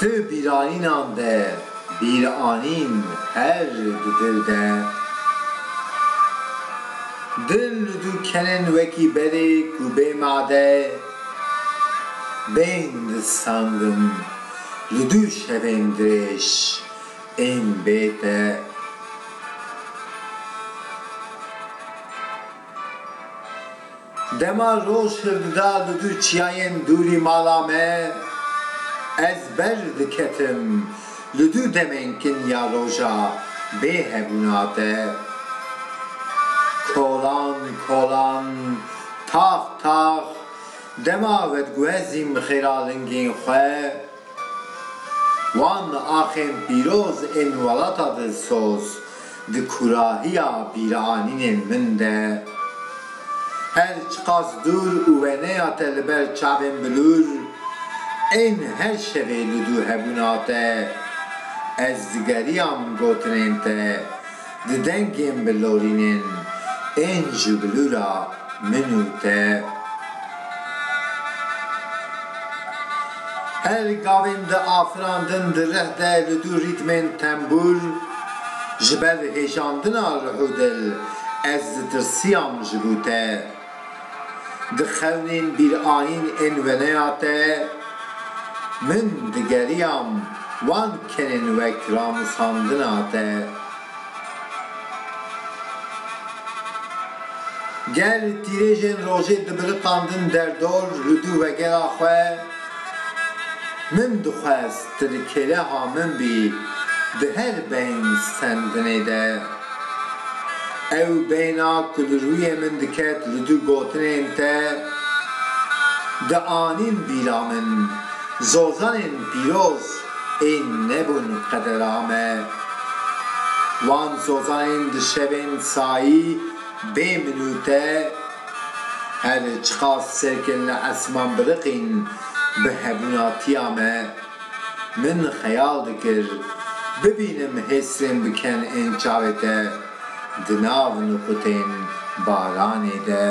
Ti bîranînan de bîranîn her di dil de. Dil li du kenin wekî berê ku bê made bên distandin li du şevên dirêj ên bê te. Dema roj hirdida li du çiyayên dûrî mala me, ez ber diketim li du demên kin ya roja bê hebûna te. Kolan kolan, tax tax, dema vediguhezîm xêralingên xwe, Wan axên pîroz ên welata Dilsoz di kurahiya bîranînên min de her çiqas dûr û weneya te li ber çavên bilûr ên her şevê li dû hebûna te, ez digeriyam gotinên te, Di dengên bi lorînên ên ji bilûra min û te. Her gavên di afirandin di rih de li dû rîtmên tembûr, ji ber hêjandina ruh û dil ez ditirsiyam ji bo te. Dixewnîn bîrayîn ên weneya te, min digeriyam wan kenên wek ramûsandina te. Ger tîrêjên rojê dibiriqandin derdor li dû vegera xwe, min dixwest Tu di keleha min bî di her beyn stendinê de. Ew beyna ku li rûyê min diket li du gotinên te di anîn bîra min, Zozanên pîroz ê nebûn qedera me. Wan zozanên di şevên sayî bê min û te, Her çiqas serkên li esman biriqîn bi hebûnatiya me, min xeyal dikir bibînim hêsrên bi ken ên çavê te di nav nuqutên baranê de.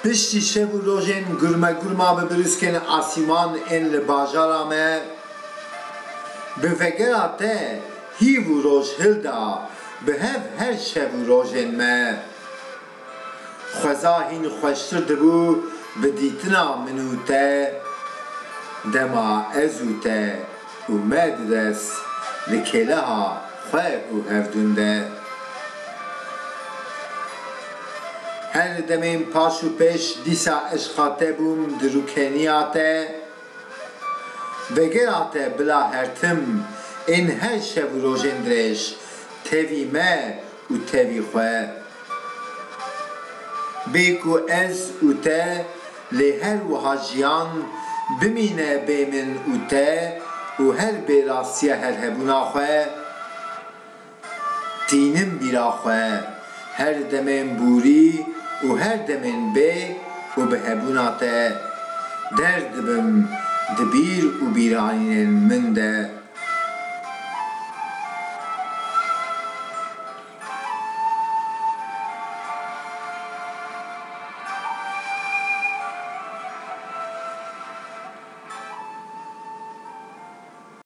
Piştî şev û rojên gurmegurma bi brûskên asîman ên li bajara me, bi vegera te, Hîv û roj hil da bi hev her şev û rojên me. Xweza hîn xweştir dibû bi dîtina min û te. Dema ez û te û me di dest di kêleha xwe û hevdûn de. Her li demên paş û pêş dîsa eşqa te bûm di rûkeniya te. Vegera te bila hertim ên her şev û rojên dirêj tevî me û tevî xwe bê ku ez û te lê her wiha jiyan bimîne bê min û te û her bê rastiya herhebûna xwe. Tînim bîra xwe, her demên bûrî û her demên bê û bi hebûna te, der dibim di bîr û bîranînên min de.